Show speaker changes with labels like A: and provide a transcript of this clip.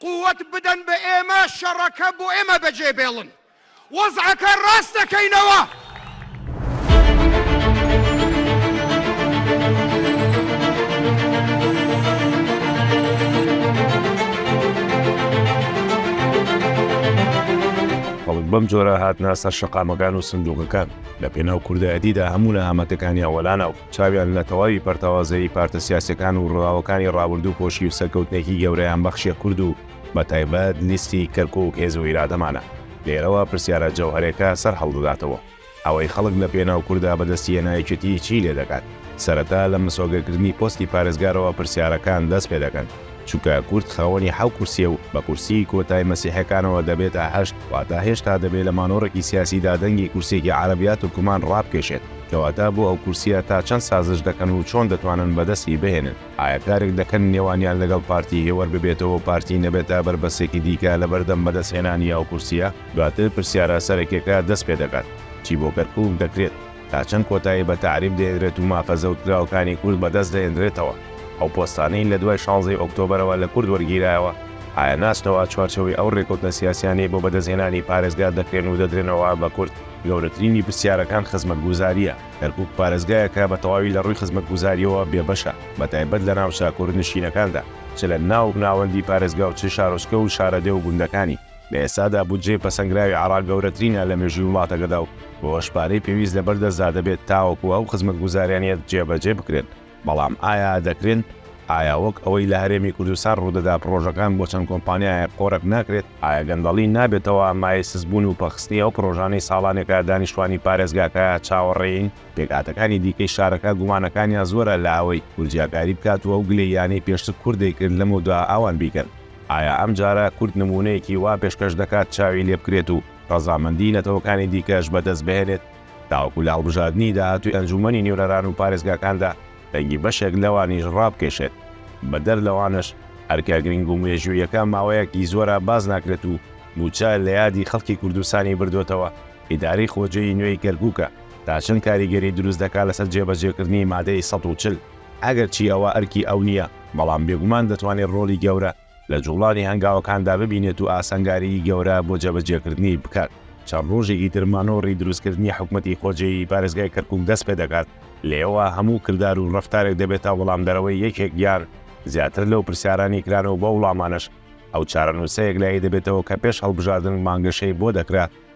A: قوت بدەن بە ئێمە شەڕەکە بۆ ئێمە بەجێ بێڵن وەزعەکە ڕاست دەکەینەوە.
B: خەڵک بەم جۆرە هاتنە سەر شەقامەکان و سندوقەکان لە پێناو کوردایەتیدا هەموو نەهامەتەکانیان وەلانا و چاویان لە تەواوی پەرتەوازەیی پارتە سیاسیەکان و رووداوەکانی رابوردوو پۆشی و سەرکەوتنێکی گەورەیان بەخشیە کورد و بە تایبەت لیستی کەرکوک هێز و ئیرادەمانە. لێرەوە پرسیارە جەوهەرێکە سەر هەڵدەداتەوە، ئەوەی خەڵک لە پێناو کوردا بە دەستی هێنا یەکێتی چی لێ دەکات؟ سەرەتا لە مسۆگەر کردنی پۆستی پارێزگارەوە پرسیارەکان دەست پێ دەکەن، چونکە کورد خاوەنی حەو کورسیە و بە کورسیی کۆتای مەسیحەکانەوە دەبێتە هەشت، واتە هێشتا دەبێ لە مانۆڕێکی سیاسیدا دەنگی کورسیەکی عەرەبیات و کومان رابکێشێت. کەواتە بۆ ئەو کورسیە تا چەند سازش دەکەن و چۆن دەتوانن بەدەستی بهێنن؟ ئایا کارێک دەکەن نێوانیان لەگەڵ پارتی هێوەر ببێتەوە و پارتی نەبێتە بەربەستێکی دیکە لەبەردەم بەدەستهێنانی ئەو کورسیە؟ دواتر پرسیارە سەرەکیەکە دەست پێ دەکات، چی بۆ کەرکوک دەکرێت؟ تا چەند کۆتایی بە تەعریب دەهێنرێت و مافە زەوتکراوەکانی کورد بەدەست دەهێنرێتەوە؟ ئەو پۆستانەی لە دوای شانزەی ئۆکتۆبەرەوە لە کورد وەرگیرایەوە، ئایا ناچنەوە چوارچێوەی ئەو رێکەوتنە سیاسیانەی بۆ بەدەستهێنانی پارێزگا دەکرێن و دەدرێنەوە بە کورد؟ گەورەترینی پرسیارەکان خزمەتگوزارییە، کەرکووک پارێزگایەکە بە تەواوی لە ڕووی خزمەتگوزارییەوە بێبەشە، بەتایبەت لە ناوچە کوردنشینەکاندا، چ لە ناو ناوەندی پارێزگا و چ شارۆچکە و شارەدێ و گوندەکانی، لە ئێستادا بودجەی پەسەندکراوی عێراق گەورەترینە لە مێژووی وڵاتەکەدا و بەوەش پارەی پێویست لەبەردەستدا دەبێت تاوەکو ئەو خزمەتگوزاریانە جێبەجێ بکرێن. بەڵام ئایا دەکرێن؟ ئایا وەک ئەوەی لە هەرێمی کوردستان ڕوودەدا پڕۆژەکان بۆ چەند کۆمپانیایەک قۆرەک ناکرێت؟ ئایا گەندەڵی نابێتەوە مایەی سستبوون و پەخستنی ئەو پڕۆژانەی ساڵانێکە دانیشتوانی پارێزگاکە چاوەڕێین؟ پێکهاتەکانی دیکەی شارەکە گومانەکانیان زۆرە لە ئەوەی کورد جیاکاری بکات و ئەو گلەییانەی پێشتر کورد دەیکرد لەمەودا ئەوان بیکەن. ئایا ئەمجارە کورد نموونەیەکی وا پێشکەش دەکات چاوی لێبکرێت و ڕەزامەندیی نەتەوەکانی دیکەش بەدەست بهێنێت؟ تاوەکو لە هەڵبژاردنی داهاتووی ئەنجوومەنی نوێنەران و پارێزگاکاندا دەنگی بەشێک لەوانیش ڕابکێشێت، بەدەر لەوانەش ئەرکە گرنگ و مێژووییەکە ماوەیەکی زۆرە باس ناکرێت و مووچە لە یادی خەڵکی کوردستانی بردۆتەوە، ئیدارەی خۆجێی نوێی کەرکووکە تا چەند کاریگەری دروست دەکات لەسەر جێبەجێکردنی مادەی سەد و چل؟ ئەگەرچی ئەوە ئەرکی ئەو نییە، بەڵام بێگومان دەتوانێت ڕۆڵی گەورە. لە جوڵانی هەنگاوەکاندا ببینێت و ئاسانگاریی گەورە بۆ جێبەجێکردنی بکات. چەند ڕۆژێکی تر مانۆڕی دروستکردنی حکومەتی خۆجێیی پارێزگای کەرکووک دەست پێ دەکات، لێەوە هەموو کردار و ڕەفتارێک دەبێتە وەڵامدەرەوەی یەکێک یان زیاتر لەو پرسیارانەی کران و بەو وڵامانەش ئەو چارەنووسەیەک لای دەبێتەوە کە پێش هەڵبژاردن بانگەشەی بۆ دەکرا،